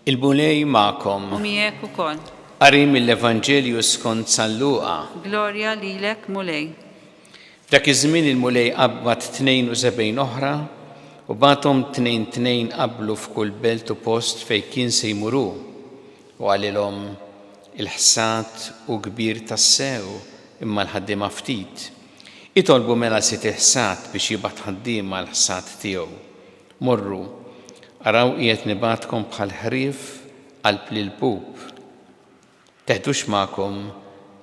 Il-Mulej magħkom. U miegħek ukoll. Qari mill-Evanġelju skont San Luqa. Glorja lilek Mulej. Dak iż-żmien il-Mulej qabbad 72 oħra u bagħathom tnejn tnejn qablu f'kull belt u post fejn kien se jmuru. U qalilhom, Il-ħsad hu kbir tassew, imma l-ħaddiema ftit. Itolbu mela sid il-ħsad biex jibgħat ħaddiema għall-ħsad tiegħu. Morru, araw qiegħed nibgħatkom bħal ħrief qalb l-ilpup. Teħdux magħkom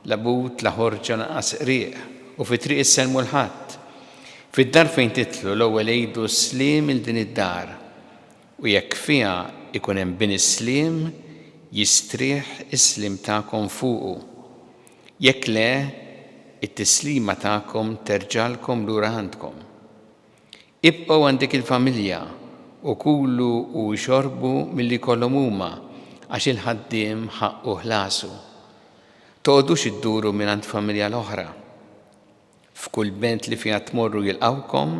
la but la ħorġa lanqas qrieq, u fit-triq issellmu 'l ħadd. Fid-dar fejn titlu, l-ewwel għidu s-sliem 'il din id-dar. U jekk fiha jkun hemm bini s-sliem, jistrieħ is-sliem tagħkom fuqu. Jekk le, it-tislima tagħkom terġgħalkom lura għandkom. Ibqgħu għand dik il-familja u kulu u xorbu milli jkollhom huma, għax il-ħaddiem ħaqqu ħlasu. Toqgħodux idduru mingħand familja l-oħra. F'kull belt li fiha tmorru jilqgħukom,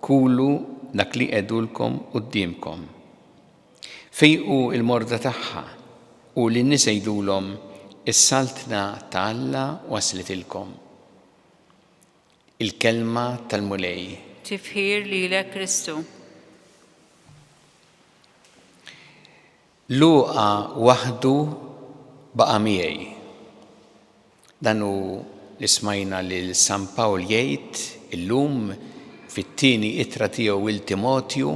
kulu dak li jqegħdulkom quddiemkom. Fejqu l-morda tagħha, u lin-nies għidulhom, 'Is-Saltna ta' Alla waslitilkom. Il-Kelma tal-Mulej. Tifħir lilek Kristu. Luqa waħdu baqa' miegħi. Dan hu li smajna lil San Pawl jgħid illum fit-tieni ittra tiegħu 'l Timotju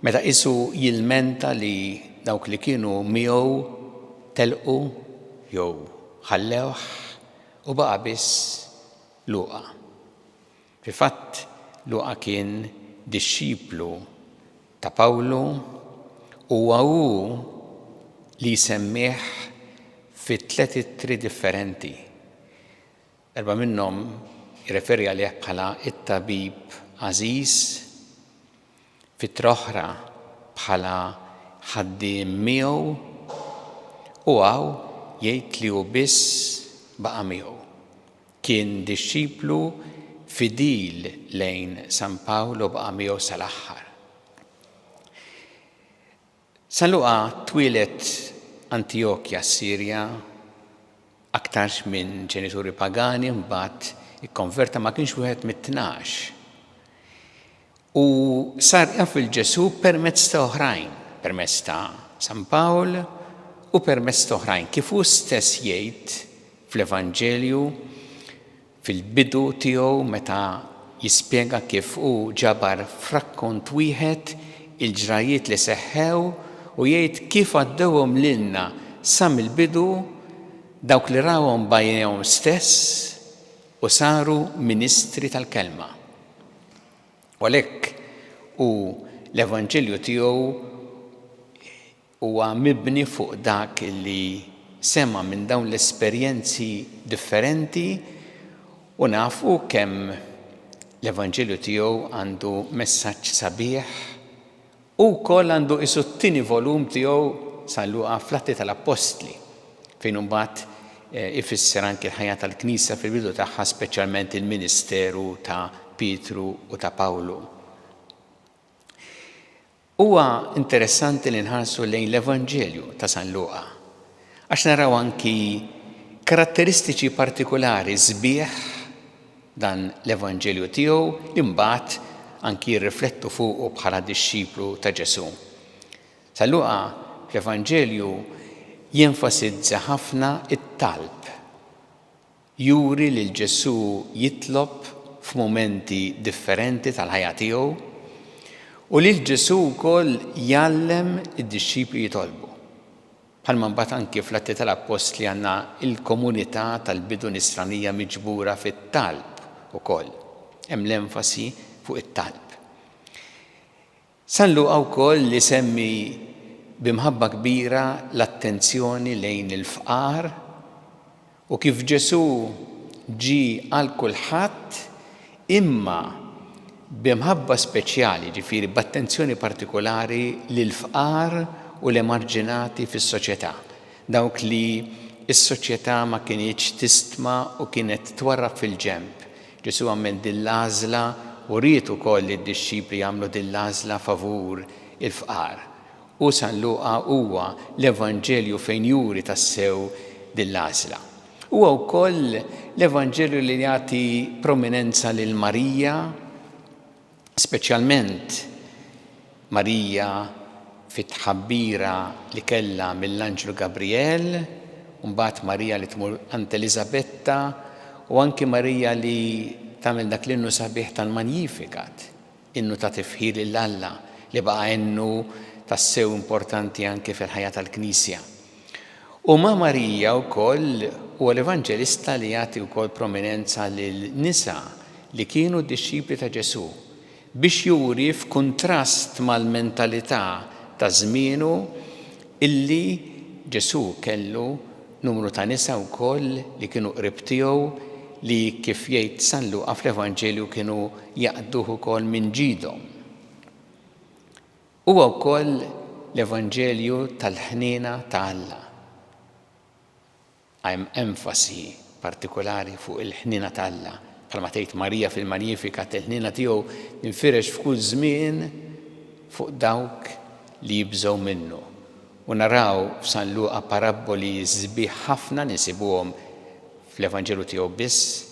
meta qisu jilmenta li dawk li kienu miegħu telqu jew ħallewh u baqa' biss Luqa. Fil-fatt, Luqa kien dixxiplu ta' Pawlu u huwa hu li jsemmih fi tliet ittri differenti. Erbgħa minnhom jirreferi għalih bħala t-tabib għażiż. fitra oħra bħala ħaddiem miegħu u hawn jgħid li hu biss baqa' miegħu. Kien dixxiplu fidil lejn San Pawl u baqa' miegħu sal-aħħar. San Luqa twieled Antijokja s-Sirja, aktarx minn ġenituri pagani mbagħad ikkonverta ma kienx wieħed mit-tnax. Hu sar jaf lil Ġesù permezz ta' oħrajn, permezz ta' San Pawl u permezz t'oħrajn, kif hu stess jgħid fl-Evanġelju, fil-bidu tiegħu meta jispjega kif hu ġabar f'rakkont wieħed il-ġrajjiet li seħħew u jgħid kif għaddewhom lilna sa mill-bidu dawk li rawhom b'għajnejhom stess u saru ministri tal-Kelma. U għalhekk hu l-Evanġelju tiegħu Huwa mibni fuq dak li sema' minn dawn l-esperjenzi differenti u nafu kemm l-Evanġelju tiegħu għandu messaġġ sabiħ. Hu wkoll għandu qisu t-tieni volum tiegħu San Luqa fl-Atti tal-Appostli, fejn imbagħad ifisser anki l-ħajja tal-Knisja fil-bidu tagħha speċjalment il-ministeru ta' Pietru u ta' Pawlu. Huwa interessanti li nħarsu lejn l-Evanġelju ta' San Luqa għax naraw anki karatteristiċi partikulari sbieħ dan l-Evanġelju tiegħu li mbagħad anki jirriflettu fuqu bħala dixxiplu ta' Ġesù. San Luqa fl-Evanġelju jenfasizza ħafna t-talb. Juri lil Ġesù jitlob f'mumenti differenti tal-ħajja tiegħu u lil Ġesù wkoll jgħallem id-dixxipli jitolbu. Bħalma mbagħad anki fl-Atti tal-Appostli għandna l-komunità tal-bidu Nisranija miġbura fit-talb ukoll. Hemm l-enfasi fuq it-talb. San Luqa wkoll isemmi bi mħabba kbira l-attenzjoni lejn il-fqar u kif Ġesù ġie għal kulħadd imma bi mħabba speċjali, jiġifieri b'attenzjoni partikulari lill-fqar u l-emarġinati fis-soċjetà, dawk li s-soċjetà ma kinitx tistma u kienet twarrab fil-ġenb, Ġesù għamel din l-għażla u ried ukoll li d-dixxipli jagħmlu din l-għażla favur il-fqar. U San Luqa huwa l-Evanġelju fejn juri tassew din l-għażla. Huwa wkoll l-Evanġelju li jagħti prominenza lil Marija. Speċjalment Marija fit-tħabbira li kellha mill-anġlu Gabrijel, u mbagħad Marija li tmur għand Eliżabetta, u anki Marija li tagħmel dak l-innu sabiħ tal-Magnificat, innu ta' tifħir lil Alla li baqa' innu tassew importanti anki fil-ħajja tal-Knisja. U ma' Marija wkoll huwa l-Evanġelista li jagħti wkoll prominenza lil nisa li kienu dixxipli ta' Ġesù, biex juri f'kuntrast mal-mentalità ta' żmienu illi Ġesù kellu numru ta' nisa wkoll li kienu qrib tiegħu li kif jgħid San Luqa fl-Evanġelju kienu jaqduh ukoll minn ġidhom. Huwa wkoll l-evanġelju tal-ħniena ta' Alla. Hemm enfasi partikulari fuq il-ħniena ta' Alla, bħalma tgħid Marija fil-Magnificat, il-ħniena tiegħu tinfirex f'kull żmien fuq dawk li jibżgħu minnu. U naraw f'San Luqa parabboli sbieħ ħafna li nsibuhom fl-Evanġelju tiegħu biss,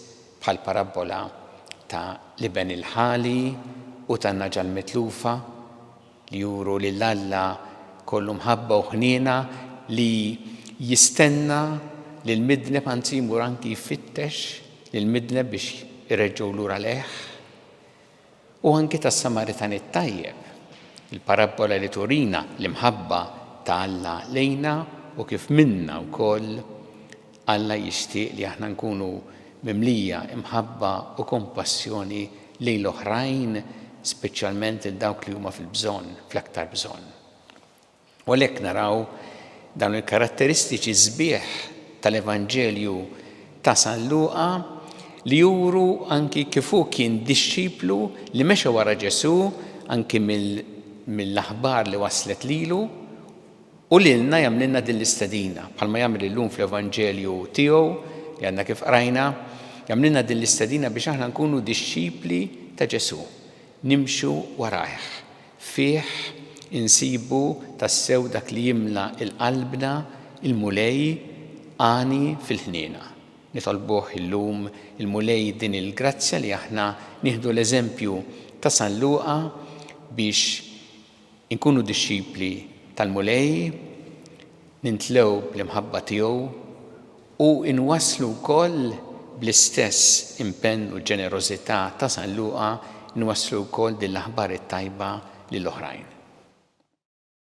bħall-parabbola ta' l-iben il-ħali u tan-nagħġa l-mitlufa, li juru lil Alla kollu mħabba u ħniena li jistenna lill-midneb, anzi jmur anki jfittex lill-midneb biex ireġġgħu lura lejh. U anki tas-Samaritan it-Tajjeb, il-parabbola li turina l-imħabba ta' Alla lejna u kif minnha wkoll Alla jixtieq li aħna nkunu mimlija imħabba u kompassjoni lejn l-oħrajn, speċjalment lil dawk li huma fil-bżonn, fl-aktar bżonn. U għalhekk naraw dawn il-karatteristiċi sbieħ tal-Evanġelju ta' San Luqa li juru anki kif hu kien dixxiplu li mexa wara Ġesù anki mill-aħbar li waslet lilu u lilna jagħmlilna din l-istedina bħalma jagħmel illum fl-Evanġelju tiegħu li għadna kif qrajna jagħmlilna din l-istedina biex aħna nkunu dixxipli ta' Ġesù, nimxu warajh. Fih insibu tassew dak li jimla 'l qalbna, il-Mulej għani fil-ħniena. Nitolbuh illum il-Mulej din il-grazzja li aħna nieħdu l-eżempju ta' San Luqa biex inkunu dixxipli tal-Mulej, nimtlew bl-imħabba tiegħu u nwasslu wkoll bl-istess impenn u ġenerożità ta' San Luqa nwasslu wkoll din l-aħbar it-tajba lil oħrajn.